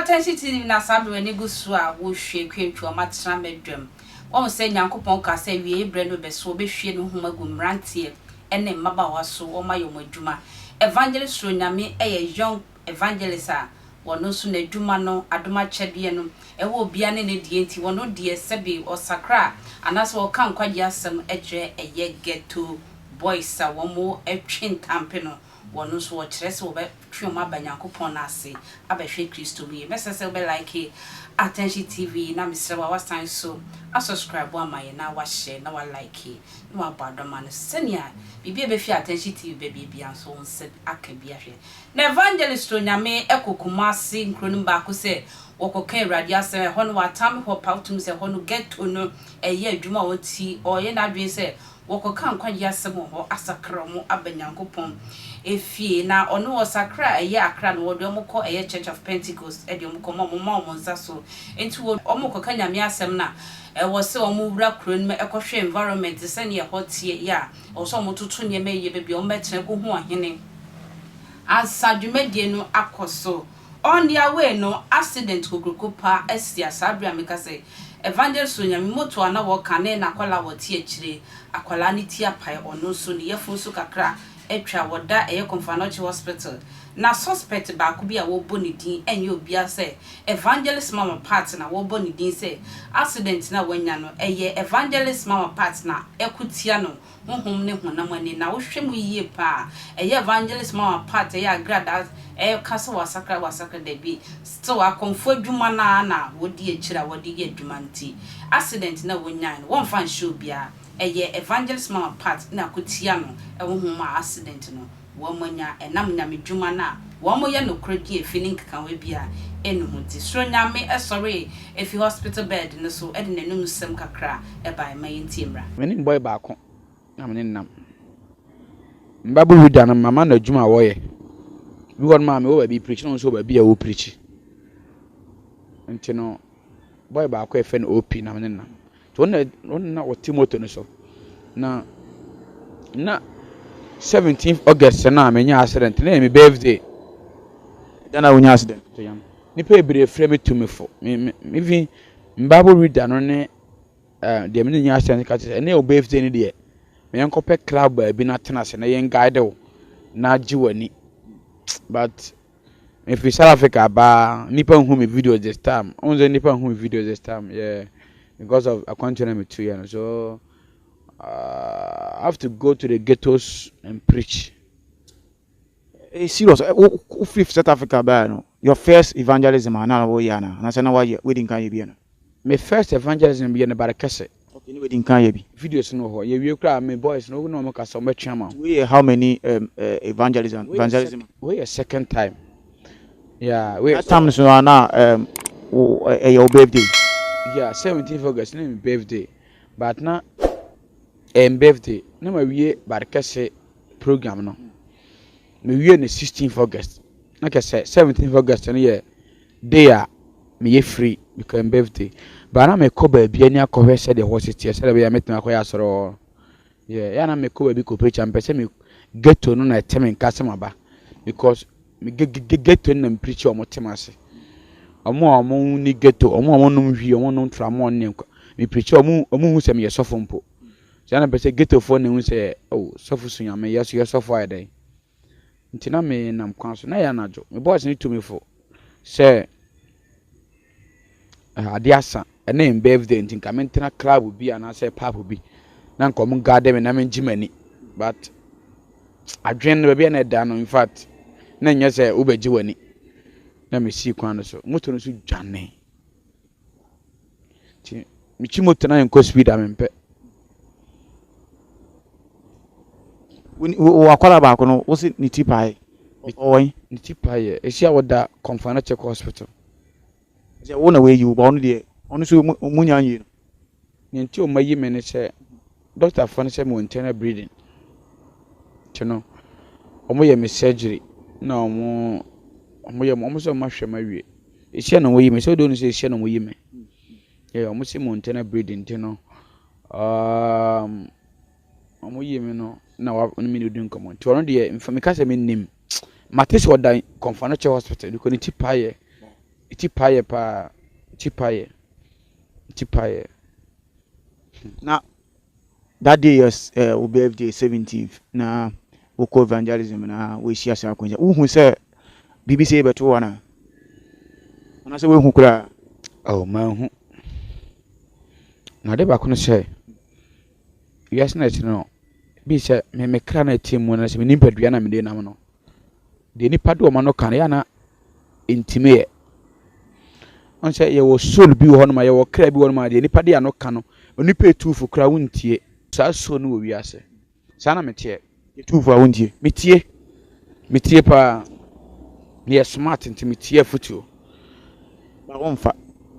Atɛnhye TV na saa bere w'ani gu so a wohwie kwantwa wɔn atena m'aduam. Wahu sɛ Nyankopɔn kaa sɛ awieeɛ berɛ no bɛso wɔbɛhwie ne nhoma agu mmeranteɛ ne mmabaawa so wɔayɛ wɔn adwuma. Evangelist Soro Nyame yɛ Young evangelist a wɔno nso n'adwuma no adom akyɛdeɛ no ɛwɔ obiara ne ne deɛ nti wɔno deɛ sɛbi ɔsakra a anaasɛ ɔka nkwagyeɛ asɛm kyerɛ ɛyɛ ghetto boys a wɔn ɛtwe ntampe no wɔno nso ɔkyerɛ sɛ wɔbɛ twe wɔn aba Nyankopɔn no ase abɛhwɛ Kristo mu yie mɛsrɛ sɛ wobɛ like Attention TV na mesrɛ wo a wasan nso a subscribe ama yɛn na wahyɛ na wa like na wabɔ adɔma no sɛnea biribi a ɛbɛfiri Attention TV bɛbie biara nso wo nsa aka bi ahwɛ Na evangelist Onyame kɔ Kumasi nkuro no mu baako sɛ wɔkɔka Awurade asɛm. Ɛhɔ no wɔatam hɔ pawtom sɛ ɛhɔ no ghetto no ɛyɛ adwuma a ɔnti ɔyɛ n'adwene sɛ wɔkɔka nkwagyeɛ asɛm wɔ hɔ asakra wɔn aba Nyankopɔn efie. Na ɔno ɔsakra a ɛyɛ Accra no wɔde wɔn kɔ ɛyɛ Church of Pentecost de wɔn kɔ ma wɔn ma wɔn nsa so nti wɔn rekɔka Nyame asɛm no a ɛwɔ sɛ wɔn wura kuro no mu kɔhwɛ environment sɛdeɛ ɛhɔ teɛ yɛ a Ɔwɔ sɛ wɔtoto nneɛma yiye baabi a wɔbɛtra akohu ɔhene ansa dwumadi no akɔ so. On their way no, accident kokroko paa asi a saa bere a meka sɛ Evangelist Onyame motor a na wɔka ne n'akwadaa a ɔte akyire, akwadaa no ti apae, ɔno nso ne yafunu nso kakra atwa, wɔda ɛyɛ Komfanochi Hospital. Na suspect baako bi a wɔbɔ ne din nyɛ obiara sɛ Evangelist Mama Pat na wɔbɔ ne din sɛ accident no a wanya no ɛyɛ Evangelist Mama Pat na ɛko tia no honhom ne honam ani na wohwɛ mu yie paa a ɛyɛ Evangelist Mama Pat ɛyɛ agradaa ɛka sɛ wasakra wasakra dabi still akɔmfoɔ adwuma no ara na wɔdi akyire a wɔde yɛ adwuma nti accident no a wɔnyae no wɔmfa nhyɛ obiara ɛyɛ Evangelist Mama Pat na ɛko tia no honhom a accident no wɔanya ɛnam nyamedwuma no a wɔyɛ nokorɛ pii efi ne nkekahoɛ biara enni ho nti, Soro Nyame sɔree efi hospital bed no so de n'anum sɛm kakra baeɛ, ma yɛntie mmra. Me ne boy baako na me ne no nam. Mbabu wi da no mama no adwuma a wɔyɛ. Bi hɔ nom a mewɔ baabi preach na ɔno nso wɔ baabi a ɔrepreach. Nti no boy baako a yɛfrɛ no OP na me ne no nam. Nti wɔn na wɔn na na wɔte moto no so. Na na seventeenth August no a menyaa accident no yɛ me birthday. Da no a wonyaa accident to yam. Nnipa bebree frɛ me tumifo. Me me me even me Bible reader no ne eh, deɛ me ne nyaa accident no ka kyerɛ sɛ ɛnɛ yɛ wo birthday no deɛ ma yɛnkɔpɛ club baabi na tena ase na yɛn guide wo na gye w'ani. But Me firi South Africa abaa nipa nhu me videos this time ɔn sɛ nipa nhu me videos this time yeah because of akwantuo na me tu yɛ no so uh, I have to go to the ghettos and preach. Hey, serious wo firi South Africa abaa no your first evangelism ana na wɔyɛ ana anasɛ na wɔyɛ wadi nkan yɛ bi no. Me first evangelism yɛ no bare kɛse. Okay ne wedding kan yɛ bi. Videos no wɔ hɔ yɛ wie koraa me boys no wo ne ɔmo kasa ɔmo bɛtwe ama wo. Wei yɛ how many um evangelism evangelism. Wei yɛ second time yeah wei. Last time nso a na um wo ɛyɛ wo birthday. Yeah seventeenth August na yɛ me birthday but na ɛyɛ me birthday na ma wie bad kɛse program no me wie no sixteenth August na kɛsɛ seventeenth August no yɛ. Day a meyɛ free mekɔ yɛn birthday but na mekɔ baabi ani akɔhwɛ sɛdeɛ hɔ si teɛ sɛdeɛ bɛyɛ a mɛtumi akɔyɛ asɔre wɔ hɔ yeah yɛ na mekɔ baabi kɔ preacher mpɛ sɛ me ghetto no na ɛte me nka sɛ maba because me ghetto no na me preacher wɔn te me ase wɔn a wɔn ni ghetto wɔn a wɔn nom hwi wɔn nom tramɔ ne nkwa me preacher wɔn wɔn hu sɛ meyɛ sɔfo mpo sɛ na mpɛ sɛ ghetto foɔ na ehu sɛ oh sɔfo sunyame yɛ so yɛ sɔfo ayɛ dɛn. Nti na me nam kwan so, na ɛyɛ anadwo. Me boss no tu me fo sɛ eh, ade asa, ɛna yɛn birthday nti nka mentena club bi anaasɛ pub bi na nka ɔmo guard me na mengye m'ani. But adwene no baabi a na ɛda no in fact na nyɛ sɛ wobɛgye w'ani. Na mesii kwan no so, moto no so dwanee. Nti metwi moto na menkɔ speed a mempɛ. Wɔ akwadaa baako no, wo se ne ti pae. Ɔwɔ yi? Ne ti pae yɛ. Esi a wɔda kɔnfan na kyɛkɔ hospital. Sɛ wo na wɔayi wo ba ɔno deɛ ɔno nso ɔmu nya nwie no. Nea nti a wɔayi me ne sɛ. Dɔktafoɔ no sɛ mewɔ internal bleeding nti no wɔn yɛ me surgery na wɔn wɔn yɛ wɔn sɛ wɔn ahwɛ me awie ehyia na wɔn yi me sɛ ɔdɔ no sɛ ehyia na wɔn yi me yɛ wɔn sɛ mewɔ internal bleeding nti no um, wɔn yi me no na wɔn ne me na odi nkɔmɔ nti wɔn deɛ nfa mi ka sɛ me nim mate sɛ ɔda kɔnfa no kyɛ hospital bi kɔ ne ti pa yɛ ti pa yɛ paa ti pa yɛ ti pa yɛ. Na that day yɛ eh, wo birthday seventeenth na wokɔ evangelism na woahyia saa akwanhyia wohu sɛ biribi sɛ yɛbɛto wo ana anaasɛ woahu koraa oh manhu na ade baako no sɛ wiase na ɛkyerɛ no bi sɛ me me kra na ɛte mu na sɛ me nipadua na mede nam no deɛ nipa de ɔma no ka no yɛ ana ntumi yɛ. Ɔn sɛ yɛwɔ soul bi wɔ hɔ nom a, yɛwɔ kra bi wɔ hɔ nom a, deɛ nipa de ano ka no, onipa etu fo koraa wontie. Saa soul no wɔ wiase. Saa na meteɛ. Yɛtu fo a wontie. Metie. Metie paa. Meyɛ smart nti metie afotuo. Ba womfa.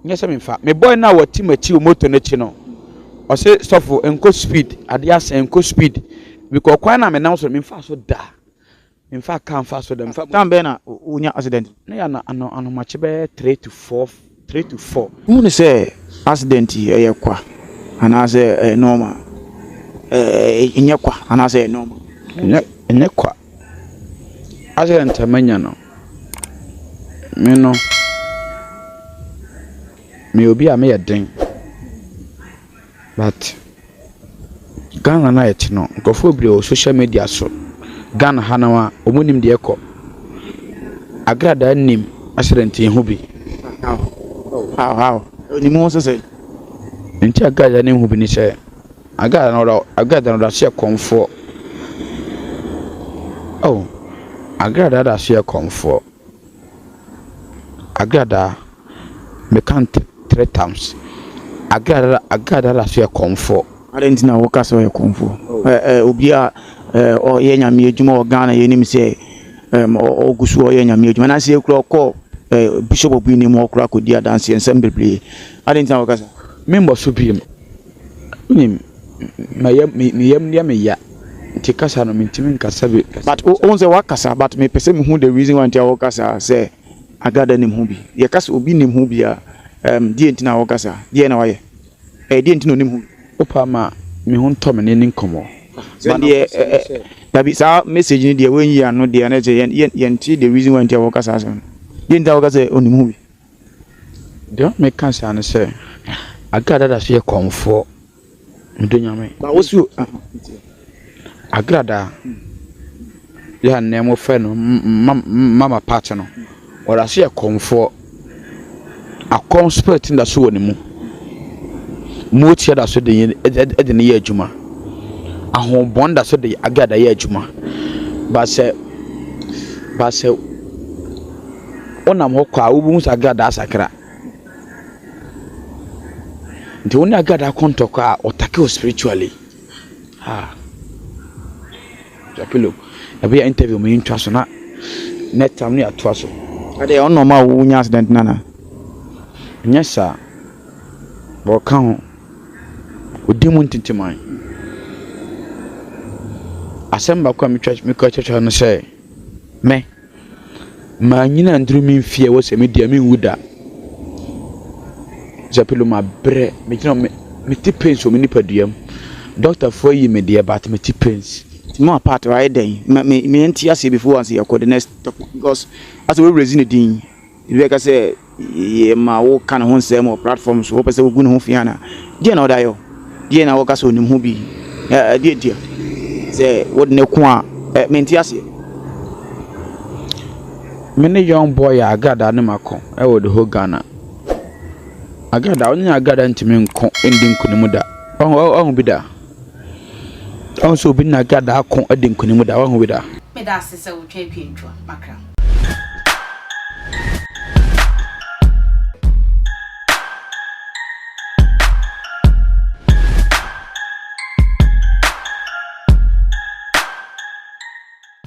Nyɛ sɛ memfa. Me boy no a ɔte m'akyi wɔ motor no akyi no, ɔse sɔfo nkɔ speed, adeɛ asɛe, nkɔ speed. Mekɔɔ kwan no a menam so no, memfaa so da. Mfa car mfa so dɛm. Time bɛn na wonya accident no? Na yɛ anomakye bɛyɛ three to four three to four. Wohu no sɛ accident yi ɛyɛ kwa anaasɛ ɛyɛ normal? Ɛɛ ɛnyɛ kwa anaasɛ ɛyɛ normal? Ɛnyɛ ɛnyɛ kwa. Accident a manya no me no meyɛ obi a meyɛ den. But Ghana no a yɛte no, nkurɔfoɔ bebree wɔ social media so. Ghana ha no ara, wɔnim deɛ ɛrekɔ. Agradaa nim accident yi ho bi. How how? Onim ho nso sɛ. Nti agradaa no ho bi ne sɛ, agradaa no ɔda agradaa no ɔda so yɛ kɔmfoɔ. Oh, agradaa da so yɛ kɔmfoɔ. Agradaa, meka no three times. Agradaa agradaa da so yɛ kɔmfoɔ. Adɛn nti na woka sɛ ɔyɛ kɔmfoɔ? Obi a ɔyɛ nyame adwuma wɔ Ghana yɛnim sɛ ɔgu so ɔyɛ nyame adwuma. Anaasɛ yɛ kura ɔkɔ bishop bi anim ɔkura kɔdi adanseɛ nsɛm bebree. Adɛn nti na woka saa? Membɔ so bio. Wonim, me yam me yam yɛ me ya nti kasa no mentumi nkasa bi. But wohu sɛ woakasa but mepɛ sɛ mehu the reason why nti a woka saa sɛ Agada nim ho bi. Yɛka sɛ obi nim ho bi a ɛɛm deɛ nti na woka saa? Deɛn na wayɛ? Ɛɛ deɛ nti na onim ho bi? Wopa ma me ho ntɔ me ne ne nkɔmmɔ. But deɛ ɛɛ dabi saa message no deɛ woanyi ano deɛ na ɛkyerɛ yɛn yɛn yɛntee the reason why nti a woka saa asɛm no. Deɛ nti a woka sɛ onim ho bi? Deɛ ɔma me ka saa ne sɛ, Agra dada so yɛ kɔmfoɔ, medɔ Nyame. Agra da yɛ a nnɛ mo fɛ no mama party no, ɔda so yɛ kɔmfoɔ. Akɔm spirit no da so wɔ ne mu. Mootia da so de ne yɛ adwuma. Ahoɔbɔn da so de Agra da yɛ adwuma. Ba sɛ, ba sɛ. Wonam hɔ kɔ a, wobɛhu sɛ agradaa asakra. Nti wo ne agradaa kɔ ntɔkwa a, ɔtake wo spiritually. Ah. Japilo, ɛbɛyɛ interview mu yɛntwa so na next time no yɛatoa so. Ɛdeɛ ɛwɔ normal a wonya accident no anaa? Nyɛ saa. Wɔka ho. Ɔdi mu ntintiman. Asɛm baako a metwa mekɔ kyerɛkyerɛ no sɛ me Mannyina annduru me mfie a ɛwɔ sɛ medi a mennwu da. Zɛpilo mabrɛ, megyina hɔ me te pains wɔ me nipadua mu. Dɔktafoɔ ayi me deɛ but me te pains. Mo apart hɔ ayɛ dɛn? Me me me nte aseɛ before ansa yɛkɔ the next talk because asɛ wo awuradzi ne din. Ebi bɛka sɛ, 'Yɛma woka ne ho nsɛm wɔ platform so, wopɛ sɛ wugu ne ho fi anaa? Deɛn na ɔde ayɛ wo? Deɛn na woka sɛ onim ho bi? Ɛ, ɛdeɛ deɛ, sɛ wode no ko a, ɛ, mente aseɛ. Me ne young boy a agradaa ne mako wɔ the whole Ghana. Agradaa, ɔne agradaa ntumi nko ndi nkunim da. Wahu, wahu bi da? Ɔhu sɛ obi na gya daa ko adi nkunim da, wahu bi da. Meda ase sɛ wotwa atwantwa makra.